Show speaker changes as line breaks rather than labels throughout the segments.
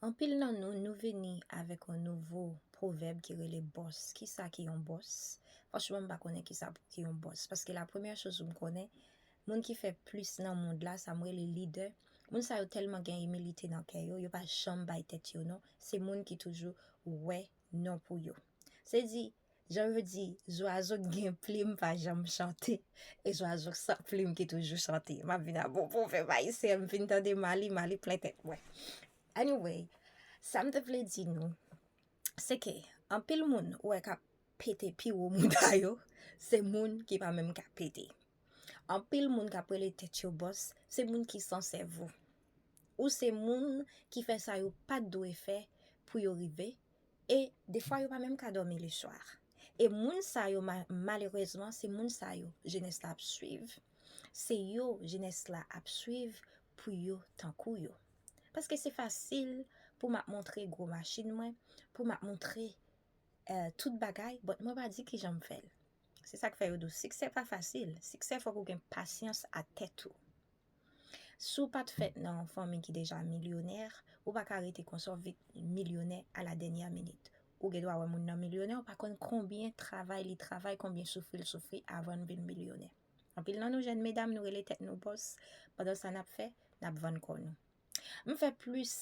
Anpil nan nou, nou vini avèk yon nouvo pwovèb ki rele bòs. Kisa ki yon bòs? Franchman m pa konnen kisa pou ki yon bòs. Paske la premyè choz m konnen, moun ki fè plis nan mond la, sa m rele lidè, moun sa yo tèlman gen imilite nan kè yo, yo pa janm bay tèt yo non. Se moun ki toujou wè non pou yo. Se di, Jan yo di, zwazo k gen plim pa janm chante, e zwazo k san plim ki toujou chante. M ap vin ak bon pwovèb ayisyen, m fin tande Mali, Mali plen tèt mwen. Anyway, sa m te vle di nou, se ke anpil moun ou wè k ap pete pi wo mouda yo, se moun ki pa menm ka pete. Anpil moun k ap rele tèt yo bòs, se moun ki san sèvo. Ou se moun ki fè sa yo pa t dwe fè pou yo rive e defwa yo pa menm ka dòmi le swa e moun sa yo malerezman se moun sa yo jenès la ap swiv se yo jenès la ap swiv pou yo tankou yo paske se fasil pou m ap montre gwo machin mwen pou m ap montre eh, tout bagay bòt mwen pa di kijan m fè l se sa k fè yo di w siksè pa fasil siksè fòk ou gen pasyans a tèt ou. Si w pa t fèt nan yon fanmi ki deja milyonè, ou pa ka rete konsa w vit milyonè a la dènyè minit. Ou gen dwa wè moun nan milyonè, ou pa konn konbyen travay li travay, konbyen soufri l soufri avan l vin milyonè. Anpil nan nou jèn medam nou rele tèt nou bòs, pandan sa n ap fè, n ap vann kò nou. M fè plis.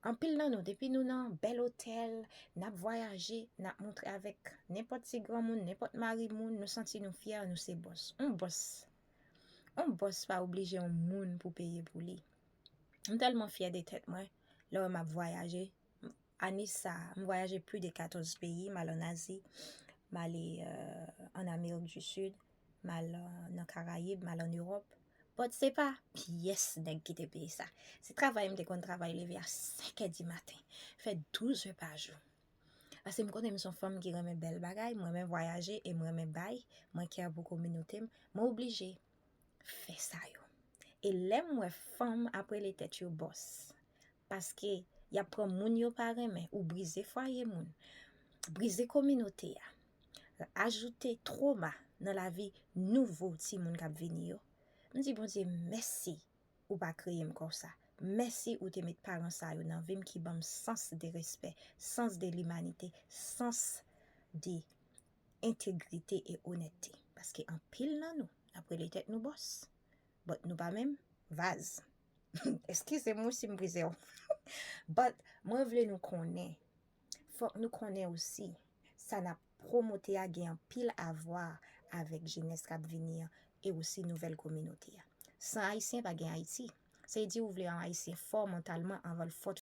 Anpil nan nou depi nou nan bèl otèl, nap vwayaje, nap montre avèk nenpòt ti granmoun, nenpòt mari moun, nou santi nou fyè nou se bòs. On bòs, on bòs pa oblije on moun pou peye pou li. M tèlman fyè de tèt mwen, lè w wè map vwayaje, ane sa, m vwayaje pli de 14 peyi, m al an Azi, m ale an Amerik di Sid, M al nan Karayib, m al an Ewòp. But se pa pyès nèg ki te peye sa. Se travay m te konn travay leve a 5 è di maten, fè 12 è pa jou. Pase m konnen m son fanm ki renmen bèl bagay, m renmen vwayaje e m renmen bay, mwen kè pou kominote m, mwen oblije fè sa yo. E lè m wè fanm ap rele tèt yo bòs, Paske yap pran moun yo pa renmen ou brize fwaye moun, brize kominote a, ajoute troma nan lavi nouvo timoun kap vini yo. M di Bondye mèsi ou pa kreye m konsa, mèsi ou te met paran sa yo nan vi m ki banm sans de respè, sans de limanite, sans de entegrite e onètete. Paske anpil nan nou nap rele tèt nou bòs, But nou pa menm vaz. Eskize m wi si m brize w. But mwen vle nou konnen, fòk nou konnen osi, sa n ap pwomote a gen anpil avwa avèk jenès k ap vini an e osi nouvèl kominote a. San Ayisyen pa gen Ayiti. Se di ou vle yon Ayisyen fò mantalman anvan l fò tout kote.